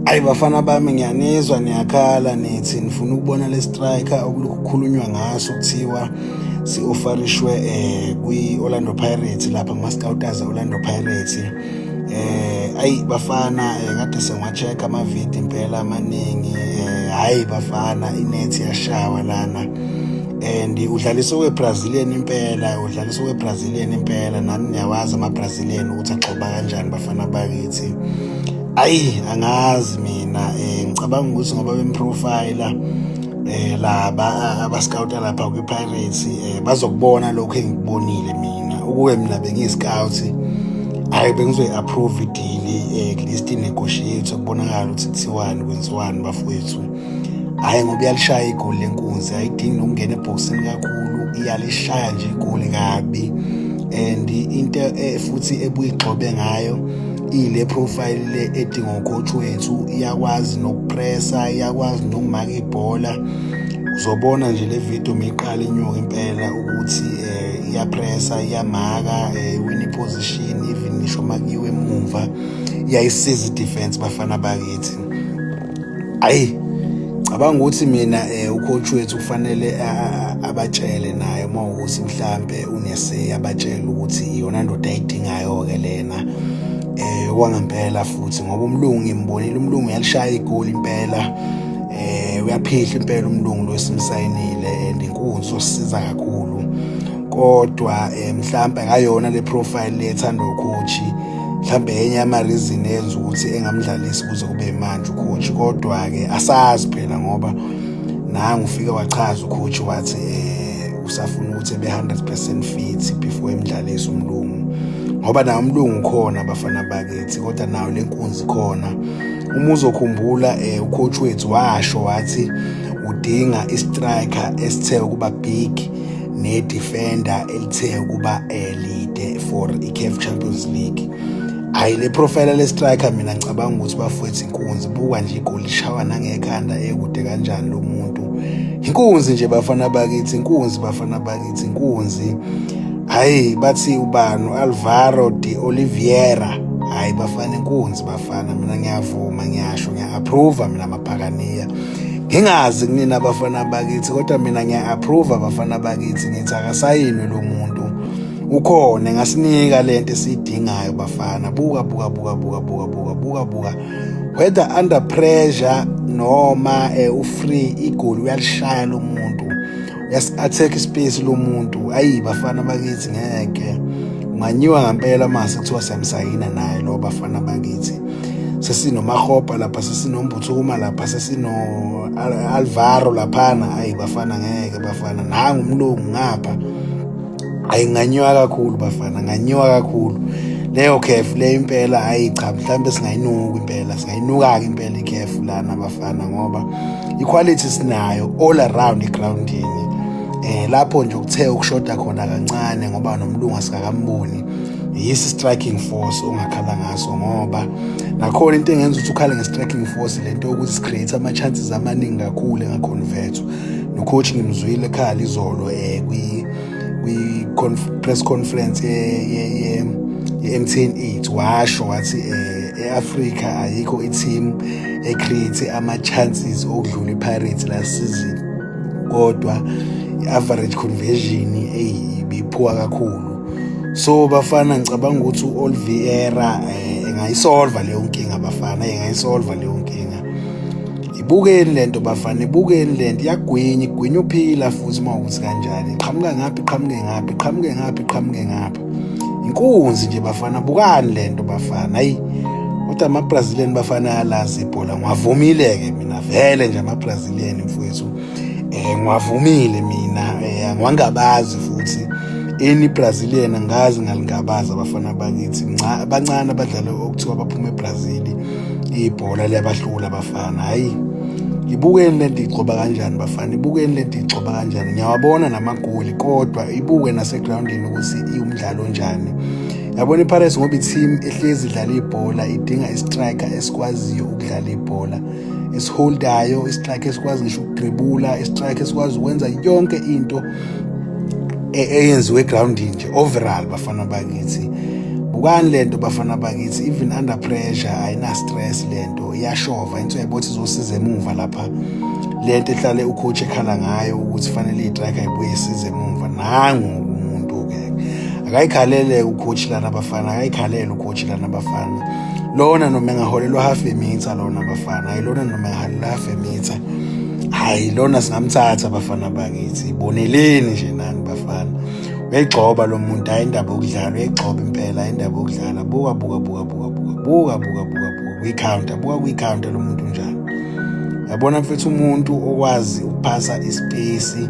Ayi bafana bami ngiyanizwa niyakhala nithi nifuna ukubona le striker okukhulunywa ngaso kuthiwa si-ofarishwe eh kwi-Orlando Pirates lapha kuma-scouters e-Orlando Pirates eh ayi bafana eh, kade sengiwa-check ama-video impela amaningi eh hayi bafana inethi yashawa lana and udlalisa owe-brazilian impela udlalisa owe-brazilian impela nani niyawazi ama-brazilian ukuthi agxoba kanjani bafana bakithi ayi angazi mina eh ngicabanga ukuthi ngoba bemprofile eh laba abascout lapha kwi Pirates eh bazokubona lokho engikubonile mina ukuwe mina bengiscout hayi bengizoyi approve deal eh at least negotiate ukubonakala ukuthi kuthiwani kwenziwani bafowethu hayi ngoba iyalishaya igoli lenkunzi ayidingi nokungena ebhokisini kakhulu iyalishaya nje igoli kabi and into eh, futhi ebuyigxobe ngayo ile profile le edingo coach wethu iyakwazi nokupressa iyakwazi nokumaka ibhola uzobona nje le video meyiqala inyuka impela ukuthi eh iyapressa iyamaka eh, win position even ngisho makiwe emuva iyayisiza defense bafana bakithi ayi cabanga ukuthi mina um ucoach wethu kufanele abatshele naye uma ukuthi mhlampe uneseyi abatshele ukuthi iyona ndoda ayidingayo-ke lena um kwangempela futhi ngoba umlungu ngimbonile umlungu uyalishaya igoli impela um uyaphihla impela umlungu lo esimsayinile and inkunzi osisiza kakhulu kodwa um mhlawumbe akayona le profile le ethandwa ukhoshi mhlawumbe enye yamareason eyenza ukuthi engamdlalisi kuze kube manje ukhoji kodwa-ke asazi phela ngoba nangu ufike wachaza ukhoji wathi um usafuna ukuthi ebe 100 percent fit before emdlalisi umlungu ngoba nawo umlungu khona abafana bakithi kodwa nawo le nkunzi khona uma uzokhumbula um eh, ucoach wethu washo wathi udinga istriker esithe ukuba big nedefender elithe ukuba elide eh, for i-caf champions league hhayi le profile le-striker mina ngicabanga ukuthi bafowethu inkunzi buka nje igoli ishawa nangekhanda ekude kanjani lo muntu inkunzi nje bafana bakithi inkunzi bafana bakithi inkunzi hhayi bathi ubani u-alvaro de oliviera hhayi bafana inkunzi bafana mina ngiyavuma ngiyasho ngiya-approva mina maphakaniya ngingazi kunina abafana bakithi kodwa mina ngiya-approve abafana bakithi ngithi akasayinwe lo muntu ukhona ngasinika le nto esiyidingayo bafana buka buka buka buka buka buka buka buka whether under pressure noma eh, ufree igoli uyalishaya lo muntu Yes, attack space lomuntu. Ayi bafana bakithi ngeke. Unganyiwa ngempela mase kuthiwa siyamsayina naye lo bafana bakithi. Sesinomahopa lapha sesinombuthuka lapha sesino Alvaro laphana. Ayi bafana ngeke bafana. Nangu umlungu ngapha. ayi nganyiwa kakhulu bafana nganyiwa kakhulu leyo khefu le impela hayi cha mhlawumbe singayinuka impela singayinuka-ke impela ikhefu lana bafana ngoba iquality sinayo all around egroundini eh lapho nje ukuthe ukushoda khona kancane ngoba nomlungu asikakamboni yisi striking force ongakhala ngaso ngoba nakhona into engenza ukuthi ukhale nge-striking force lento yokuthi si-create ama-chances amaningi kakhulu engaconvertwa nocoach ngimzwile ekhala izolo um kwi-press conference ye-mtn eight washo wathi um e-afrika ayikho i-team ecreate ama-chances okudlula ipirates la season kodwa i-average conversion eyi ibiphuka kakhulu so bafana ngicabanga ukuthi u-olviera um eh, engayisolva leyo nkinga bafana engayisolva leyo nkinga ibukeni lento bafana ibukeni lento iyagwinya igwinya uphila futhi uma ukuthi kanjani iqhamuka ngaphi iqhamuke ngaphi iqhamuke ngaphi iqhamuke ngaphi inkunzi nje bafana bukani lento bafana ayi kodwa amabrazilian bafana ayalazi ibhola ngiwavumile-ke mina vele nje amabrazilian mfowethu um ngiwavumile mina um eh, angiwangabazi futhi ini brazilian angazi ngalingabazi abafana bakithi bancane abadlali okuthiwa baphuma ebrazili ibhola liyabahlula abafana hhayi ibukeni le nto igcoba kanjani bafana ibukeni le nto igcoba kanjani ngiyawabona namagoli kodwa ibuke nasegrawundini ukuthi iwumdlalo onjani yabona ipirates ngoba i-team ehlezi idlala ibhola idinga istriker esikwaziyo ukudlala ibhola esiholdayo istrike esikwazi ngisho ukudribula istrike esikwazi ukwenza yonke into e, eyenziwe egroundini nje overall bafana bakithi bukani lento bafana bakithi even under pressure ayina stress lento iyashova into yabothi izosiza emuva lapha lento ehlale ucoach ekhala ngayo ukuthi fanele itrack ayibuye isize emuva nangu umuntu ke akayikhalele ucoach lana bafana akayikhalele ucoach lana bafana lona noma engaholelwa half a meter lona bafana ayilona noma engaholelwa half a meter hayi lona singamthatha bafana bakithi boneleni nje nani bafana uyayigxoba lo muntu hayi indaba yokudlala uyayigxoba impela hayi indaba yokudlala buka buka buka buka buka buka buka buka buka kwi-counter buka kwi-counter lo muntu njani yabona mfethu umuntu okwazi ukuphasa isipesi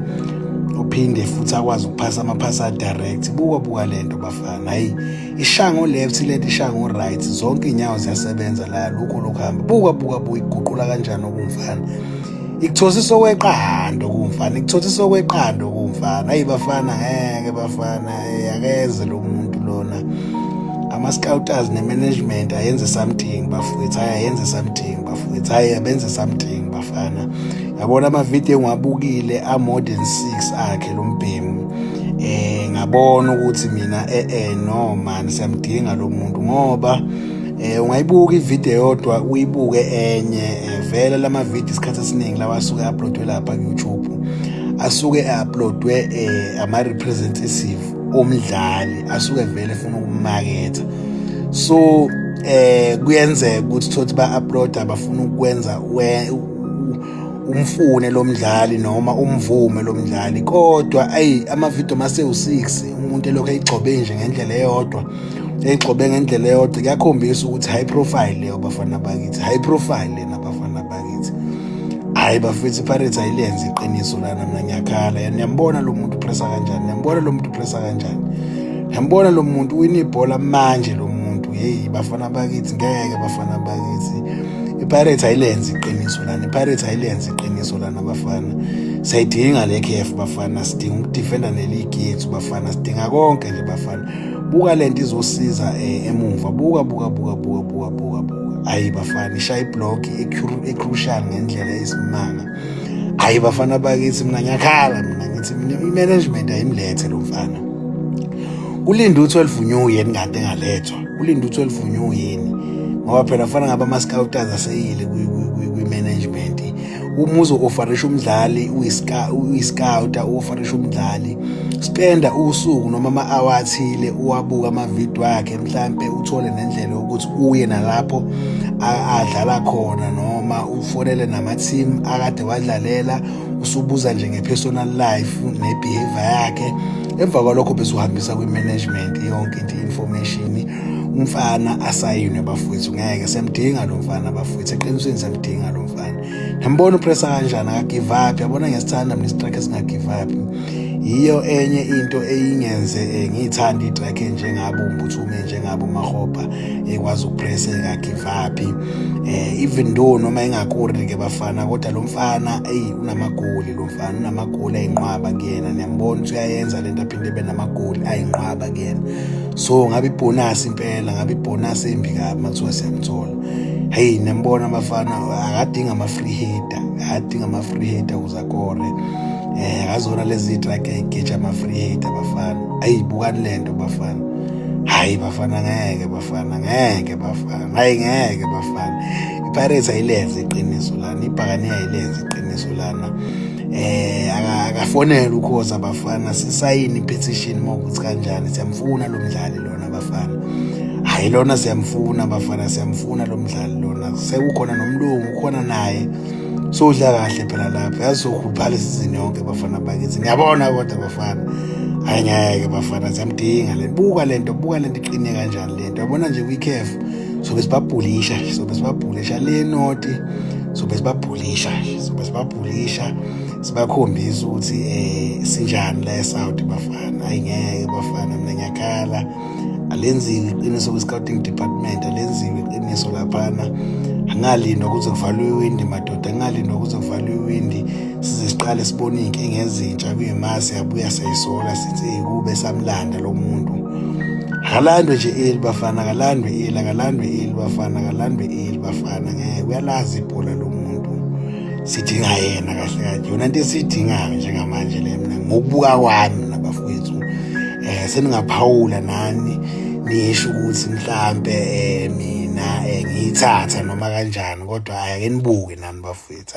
uphinde futhi akwazi ukuphasa amaphasa direct buka buka lento bafana hayi ishaya ngo-left ileti ishaya ngo-right zonke iy'nyawo ziyasebenza la lukho lokhu hamba buka buka buka iguqula kanjani okumfana ikuthosisa okweqando kumfana ikuthosisa okweqando kumfana ayi bafana ngeke bafana akeze lo muntu lona ama-scouters ne-management ayenze something bafowethu hayi ayenze something bafowethu hayi abenze something bafana yabona amavidiyo engiwabukile a-modern six akhe lo mbhemu eh ngabona ukuthi mina eh eh no man siyamdinga lo muntu ngoba eh ungayibuka ivideo yodwa uyibuke enye eh, vele lama video isikhathi esiningi lawa asuke uploadwe lapha ku YouTube asuke uploadwe eh ama representative omdlali asuke vele efuna ukumaketha so eh kuyenzeka ukuthi thothi ba upload abafuna ukwenza umfune lo mdlali noma umvume lo mdlali kodwa ayi amavidiyo mase u-six umuntu elokhu eyigcobe nje ngendlela eyodwa eyigxobe ngendlela eyodwa kuyakhombisa ukuthi high profile leyo bafana bakithi high profile lena bafana bakithi hhayi bafethu ipirates ayilenzi iqiniso lana mna ngiyakhala yani niyambona lo muntu upressa kanjani niyambona lo muntu upressa kanjani niyambona lo muntu wina ibhola manje lo muntu yeyi bafana bakithi ngeke bafana bakithi ipirates ayilenzi iqiniso lana ipirates ayilenzi iqiniso lana bafana sayidinga le kf bafana sidinga ukudefenda neligi yethu bafana sidinga konke nje bafana buka lento izosiza eh, emuva buka buka buka buka buka buka buka ayi bafana ishaya iblock ecrucial ngendlela esimanga ayi bafana bakithi mina ngiyakhala mina ngithi i-management ayimlethe lo mfana ulinda u-12 new yeni kanti engalethwa ulinda ukuthi olivunywe yini ngoba phela fana ngaba ama-scouters aseyile kwi-management uma uzo-ofarisha umdlali uyiscouta u-ofarisha umdlali spenda usuku noma ama-awa athile uwabuka amavidiyo akhe mhlampe uthole nendlela yokuthi uye nalapho adlala khona noma ufonele nama-team akade wadlalela usubuza nje nge-personal life ne-behavior yakhe emva kwalokho besuhambisa kwi-management yonke into i-information umfana asayinwe bafowethu ngeke siyamdinga lo mfana bafowethu eqinisweni siyamdinga lo mfana ngiyambona upressa kanjani akagive up yabona ngesithanda mina isitrack esingagive up yiyo enye into eyingenze eh, ngiyithanda itrack enjengabo umbuthume njengabo mahobha ekwazi ukupressa engagive up eh even though noma engakuri ke bafana kodwa lo mfana eyi unamagoli lo mfana unamagoli ayinqwaba kuyena niyambona ukuthi uyayenza lento aphinde ebe namagoli ayinqwaba kuyena so ngabe ibonus impela ngabe ibonus embi kabi makuthiwa siyamthola hey niyambona abafana akadinga ama free hitter akadinga ama free hitter ukuze akore eh akazona lezi track egeja ama free hitter bafana ayibukani lento bafana hayi bafana ngeke bafana ngeke bafana hayi ngeke bafana ipirates ayilenze iqiniso lana ibhakane ayilenze iqiniso lana eh akafonela ukhoza abafana sisayini petition mokuthi kanjani siyamfuna lo mdlali lona abafana hayi lona siyamfuna abafana siyamfuna lo mdlali lona sekukhona nomlungu ukhona naye sodla kahle phela lapha yazokhuphala isizini yonke bafana bakithi ngiyabona kodwa bafana hayi ngeke bafana siyamdinga le buka lento buka lento iqine kanjani lento yabona nje kwikhefu sobe sibabhulisha sobe sibabhulisha le noti sobe sibabhulisha sobe sibabhulisha sibakhombisa ukuthi eh sinjani la eSouth bafana ayingeke bafana mina ngiyakhala alenziwe iqiniso kwi-scouting department alenziwe iqiniso laphana angalindwa kuze kuvalwe iwindi madoda angalindwa kuze kuvalwe iwindi size siqale sibone iy'nkinga ezintsha kuyimasi yabuya sayisola sithi kube samlanda lo muntu akalandwe nje eli bafana akalandwe eli akalandwe eli bafana akalandwe eli bafana ngeke uyalazi ibhola lo muntu sidinga yena kahle kahle yona into esiyidingayo njengamanje le mina ngokubuka kwami nabafowethu um eh, seningaphawula nani nisho ukuthi mhlampe um mina um ngiyithatha noma kanjani kodwa hhayi ake nibuke nani bafowethu